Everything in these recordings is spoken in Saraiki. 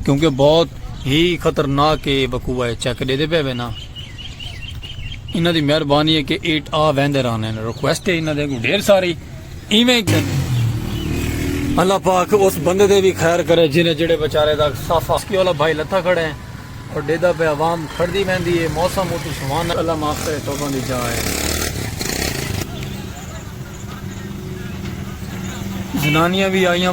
کیونکہ بہت ہی خطرناک اے وقوع اے چیک ڈیدے پے وے نا انہاں دی مہربانی ہے کہ ایٹ آ ویندے رہنے ہیں ریکویسٹ ہے انہاں دے کو ڈھیر ساری ایویں کہ اللہ پاک اس بندے دے بھی خیر کرے جنہیں جڑے بچارے دا صافا اس کی والا بھائی لتھا کھڑے ہیں اور ڈیدہ پہ عوام کھڑ دی ویندی ہے موسم اتو سوان اللہ معاف کرے تو بندی جا ہے زنانیاں بھی آئیاں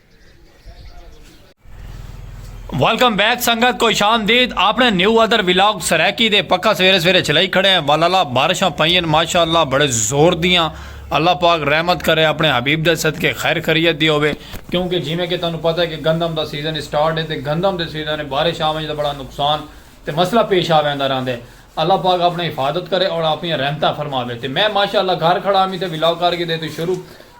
ویلکم بیک سنگت کو شام دید اپنے نیو ادر ویلاگ سریکی دے پکا سویرے سویرے چلائی کھڑے ہیں والالا بارشاں پائیں ماشاءاللہ بڑے زور دیاں اللہ پاک رحمت کرے اپنے حبیب دے صدقے خیر خریت دی ہوئے کیونکہ جی میں کہ تانوں پتہ ہے کہ گندم دا سیزن اسٹارٹ ہے تے گندم دے سیزن ہے بارش آویں دا بڑا نقصان تے مسئلہ پیش آویں دا رہندے اللہ پاک اپنے حفاظت کرے اور اپنی رحمتہ فرماوے تے میں ماشاءاللہ گھر کھڑا ہمیں تے ویلاگ کر کے دے تو شروع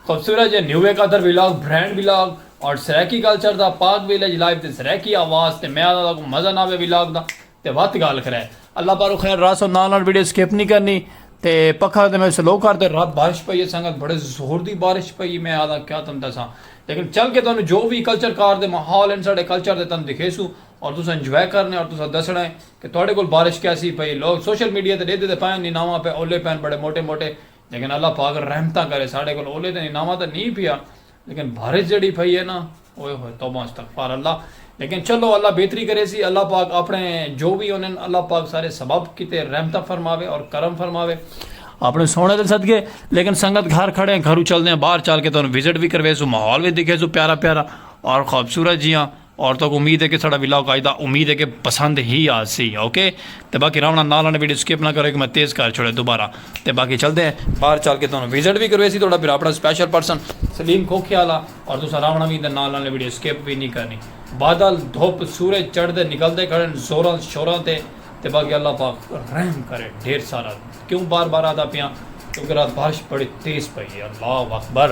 خوبصورت جے نیوے قطر ولاگ برینڈ ولاگ اور سرائیکی کلچر دا پاک ویلیج لائف دے سرائیکی آواز تے میں آہدا تاکوں مزہ نہ آوے ولاگ دا تے وت گالھ کرے اللہ پاروں خیر راسو نال نال ویڈیو سکپ نی کرنی تے پکھا تے میں سلو کر تے رب بارش پئی ہے سنگت بڑے زور دی بارش پئی میں آہدا کیا تن دساں لیکن چل کے تانوں جو وی کلچر کار دے ماحول ہن ساڈے کلچر دے تن دکھیسوں اور تساں انجوائے کرنے اور تساں دسنا ہے کہ تہاڈے کول بارش کیسی پئی لوگ سوشل میڈیا تے ڈیدھے تے پائن نی ناواں پے اولے پین بڑے موٹے موٹے لیکن اللہ پاک رحمتاں کرے ساڈے کول اولے تیں اناواں تاں نی پیا لیکن بھارچ جیڑھی پئی ہے نا اوئے ہوئے توبہ استغفار اللہ لیکن چلو اللہ بہتری کرے سی اللہ پاک اپنے جو وی ہونن اللہ پاک سارے سبب کیتے رحمتاں فرماوے اور کرم فرماوے اپنے سونے دے صدقے لیکن سنگت گھر کھڑے ہیں گھروں چل دے ہیں باہر چل کے تو وزٹ بھی کروے سو ماحول بھی دکھے سو پیارا پیارا اور خوبصورت جیاں عورتوں کو امید ہے کہ ساڑا ولاگ آج دا امید ہے کہ پسند ہی آسی اوکے تے باقی راونا نال آنے ویڈیو سکپ نہ کرو کہ میں تیز کر چھوڑے دوبارہ تے باقی چلدے ہیں باہر چل کے تانوں وزٹ وی کرویسی تہاڈا بھرا اپنا سپیشل پرسن سلیم کھوکھے والا اور تساں راونا وی تے نال آنے ویڈیو سکپ وی نی کرنی بادل دھپ سورج چڑھدے نکلدے کھڑن زوراں شوراں تے تے باقی اللہ پاک رحم کرے ڈھیر سارا کیوں بار بار آدا پیاں کیونکہ رات بارش بڑی تیز پئی ہے اللہ اکبر۔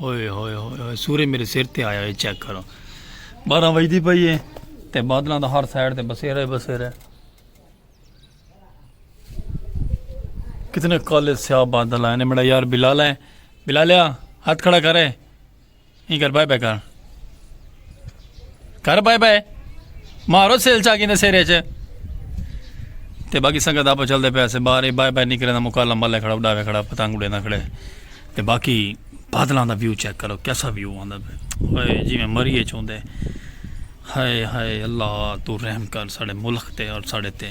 ہوئے ہوئے ہوئے ہوئے سورے میرے سر تے آیا ہے چیک کرو بارہ وجدی پئی ہے تے بادلاں دا ہر سائڈ تے بسیرا ہے بسیرا ہے کتنے کالے سیاہ بادل آئے نے میرا یار بلال ہے بلالیا ہاتھ کھڑا کرے یہ کر بائے بائے کر کر بائے بائے مارو سیل چاگی نے سیرے چے تے باقی سنگت آپ چل دے پیسے باہر اے بائے بائے نکلے دا مکالا ملے کھڑا اڈاوے کھڑا پتنگ اڈے نہ کھڑے تے باقی بادلاں دا ویو چیک کرو کیسا ویو آندا پے ہائے جی میں مری اے چوندے ہائے ہائے اللہ تو رحم کر ساڑے ملک تے اور ساڑے تے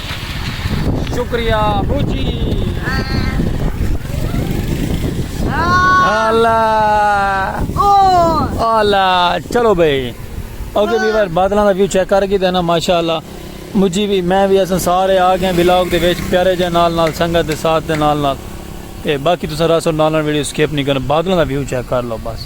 شکریہ ابو جی چلو بھائی اوکے ویور بادلوں کا ویو چیک کر کے دینا ماشاء اللہ مجھے بھی میں بھی اصل سارے آ گئے بلاگ دے ویچ پیارے جے نال نال سنگت دے ساتھ دے نال نال تے باقی تو سر اصل نال نال ویڈیو سکیپ نہیں کرنا بادلوں کا ویو چیک کر لو بس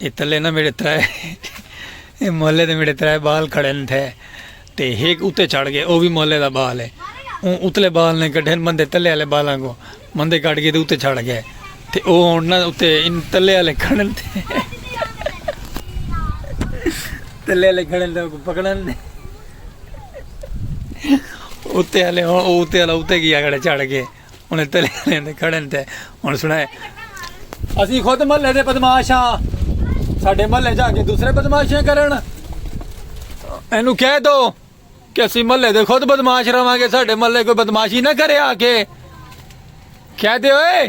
اے تلے نہ میڈے ترے اے محلے دے میڈے ترے بال کھڑن تھے تے ہک اتے چڑھ گئے او وی محلے دا بال ہے اون اتلے بال نے کڈھن مندے تلے والے بالاں کو مندے کڈھ گئے تے اتے چڑھ گئے تے او ہن نہ اتے ان تلے والے کھڑن تھے تلے والے کھڑن تے کو پکڑن نے اتے والے اتے والا اتے گیا کڑے چڑھ گئے انہیں تلے لین دے کھڑن تے انہیں سنائے اسی خود ملے دے بدماش ہاں ساڑھے ملے جا کے دوسرے بدماشیں کرن اینو کہہ دو کہ اسی ملے دے خود بدماش رہاں گے ساڑھے ملے کوئی بدماشی نہ کرے آ کے کہہ دے ہوئے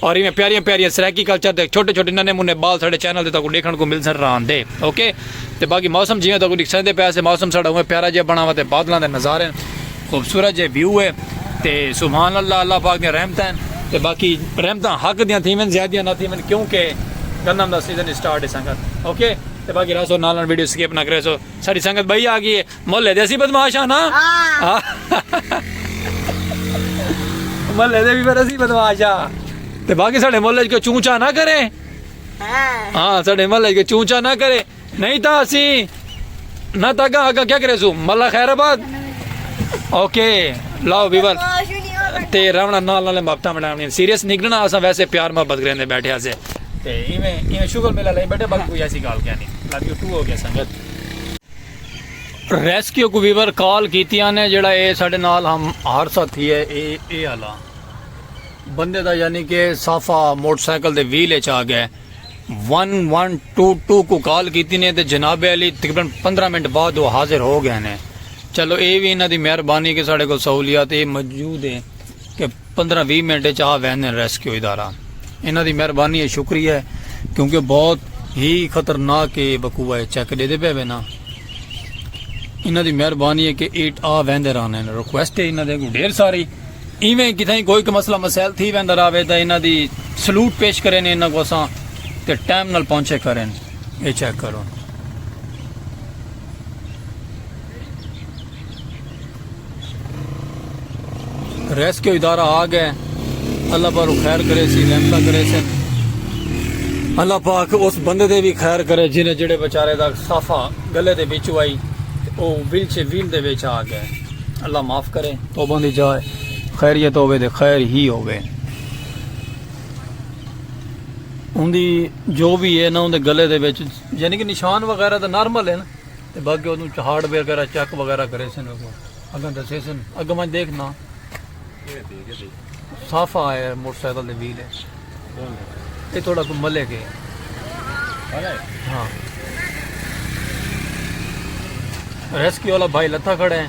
اور ایویں پیاریاں پیاریاں سرائیکی کلچر دے چھوٹے چھوٹے ننے منے بال ساڑے چینل دے تاکو ڈیکھن کو مل سن رہن دے اوکے تے باقی موسم جیویں تاکو ڈیکھسن دے پیسے موسم ساڑا ہوئے پیارا جے بنا ہوا تے بادلاں دے نظارے خوبصورت جے ویو ہے تے سبحان اللہ اللہ پاک دے رحمت ہیں تے باقی رحمت حق دیاں تھیمن زیادیاں نہ تھیمن کیونکہ گندم دا سیزن سٹارٹ ہے سنگت اوکے تے باقی رہا سو نالن ویڈیو سکیپ نہ کرے سو ساری سنگت بھائی آ گئی ہے محلے دے اسی بدماش ہاں نا محلے دے بھی پر اسی بدماش ہاں تے باقی ساڑھے محلے جو چونچا نہ کرے ہاں ساڑھے محلے جو چونچا نہ کرے نہیں تا اسی نہ تا گا اگا کیا کرے سو ملا خیر آباد اوکے لاؤ بیور تے راونا نال نالے مابتا مڈامنی سیریس نگلنا آسا ویسے پیار محبت کریں دے بیٹھے آسے تے ایمیں ایمیں شکر ملا لے بیٹھے بلکو یاسی گال کیا نہیں لابیو ٹو ہو گیا سنگت ریسکیو کو ویور کال کیتیاں نے جڑا اے ساڈے نال ہم حادثہ تھی ہے اے اے آلا بندے دا یعنی کہ صافا موٹر سائیکل دے ویل اچ آ گئے ون ون ٹو ٹو کو کال کیتی نے تے جناب علی تقریباً پندرہ منٹ بعد وہ حاضر ہو گئے نے چلو اے وی انہاں دی مہربانی کہ ساڈے کو سہولیات اے موجود ہے کہ پندرہ ویہہ منٹ اچ آ ویندن ریسکیو ادارہ انہاں دی مہربانی اے شکریہ اے کیونکہ بہت ہی خطرناک اے وقوع اے چیک ڈیدے پئے وینا انہاں دی مہربانی اے کہ ایٹ آ ویندے رہنن ریکویسٹ اے انہاں دے اگوں ڈھیر ساری ایویں کتھائیں کوئی کہ مسئلہ مسائل تھی ویندا راوے تاں انہاں دی سلوٹ پیش کرے نے انہاں کو اساں تے ٹائم نال پہنچے کرن اے چیک کرو۔ ریسکیو ادارہ آ گئے اللہ پر خیر کرے سی رحمتہ کرے سی اللہ پاک اس بندے دے بھی خیر کرے جنہیں جڑے بچارے دا صافہ گلے دے بیچو آئی او ویل چھے ویل دے بیچ آ گئے اللہ معاف کرے تو بندی جائے خیریت ہوئے دے خیر ہی ہوئے ان دی جو بھی ہے نا ان دے گلے دے بیچ یعنی کہ نشان وغیرہ دا نارمل ہے نا تے باقی اودوں چہاڑ وغیرہ چیک وغیرہ کریسن ویکھو اگاں دسیسن اگے میں دیکھنا صافا ہے موٹر سائیکل دے ویل ہے یہ تھوڑا کوئی ملے گئے ہاں ریسکیو والا بھائی لتھا کھڑے ہیں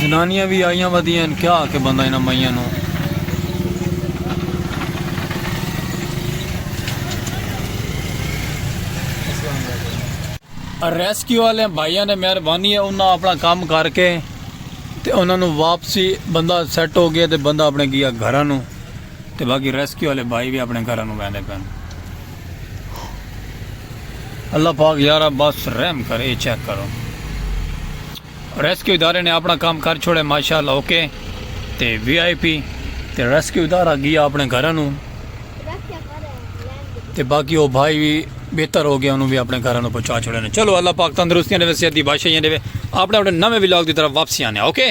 زنانیاں وی آئیاں ودیاں ہن کیا آکھے بندہ انہاں مئیاں نوں۔ ریسکیو آلیاں بھائیاں نے مہربانی ہے انہاں اپنا کام کر کے تے انہاں نوں واپسی بندہ سیٹ ہو گیا تے بندہ اپنے گیا گھراں نوں۔ تے باقی ریسکیو آلے بھائی وی اپنڑے گھراں نو ویندے پن۔ اللہ پاک یارا بس رحم کر اے چیک کرو ریسکیو ادارے نے اپنڑا کم کر چھوڑے ماشاءاللہ اوکے تے وی آئی پی تے ریسکیو ادارہ گیا اپنڑے گھراں نو تے باقی او بھائی وی بہتر ہو گیا انہوں وی اپنڑے گھراں نو پہنچا چھوڑے نے چلو اللہ پاک تندرستیاں دے وے صحت دی بادشاہیاں دے وے اپنڑے اپنڑے نویں ولاگ دی طرف واپسی آنے اوکے۔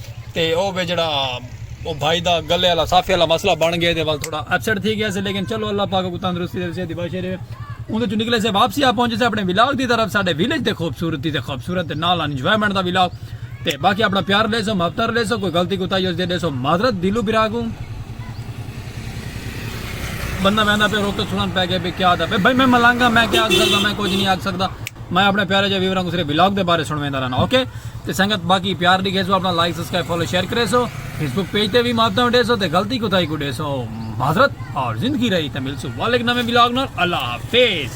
تے او وی جیڑھا او بھائی دا گلے آلا صافے آلا مسئلہ بن گئے دے ول تھوڑا اپسیٹ تھی گئے سے لیکن چلو اللہ پاک اگوں تندرستی دے صحت دی بخشے رہے اوندے چوں نکلے سے واپسی آ پہنچے سے اپنے ولاگ دی طرف ساڈے ویلیج تے خوبصورتی تے خوبصورت تے نال انجوائمنٹ دا ولاگ تے باقی اپنا پیار لیسو مفتر لیسو کوئی غلطی کوتاہی ہوسی تے دیسو معذرت دلو براگو بندہ ویندا پہ روک تے سنن پے گئے بے کیا دا بھائی میں ملانگا میں کیا آکھ سکدا میں کچھ نہیں آکھ سکدا میں اپنے پیارے جے ویوراں کو صرف ولاگ دے بارے سنویندا رہنا اوکے تے سنگت باقی پیار ڈیکھے سو اپنا لائک سبسکرائب فالو شیئر کرے سو فیس بک پیج تے بھی ماتا ڈے سو تے غلطی کوتاہی کو ڈے سو معذرت اور زندگی رہی تے مل سو والک نویں ولاگ نال اللہ حافظ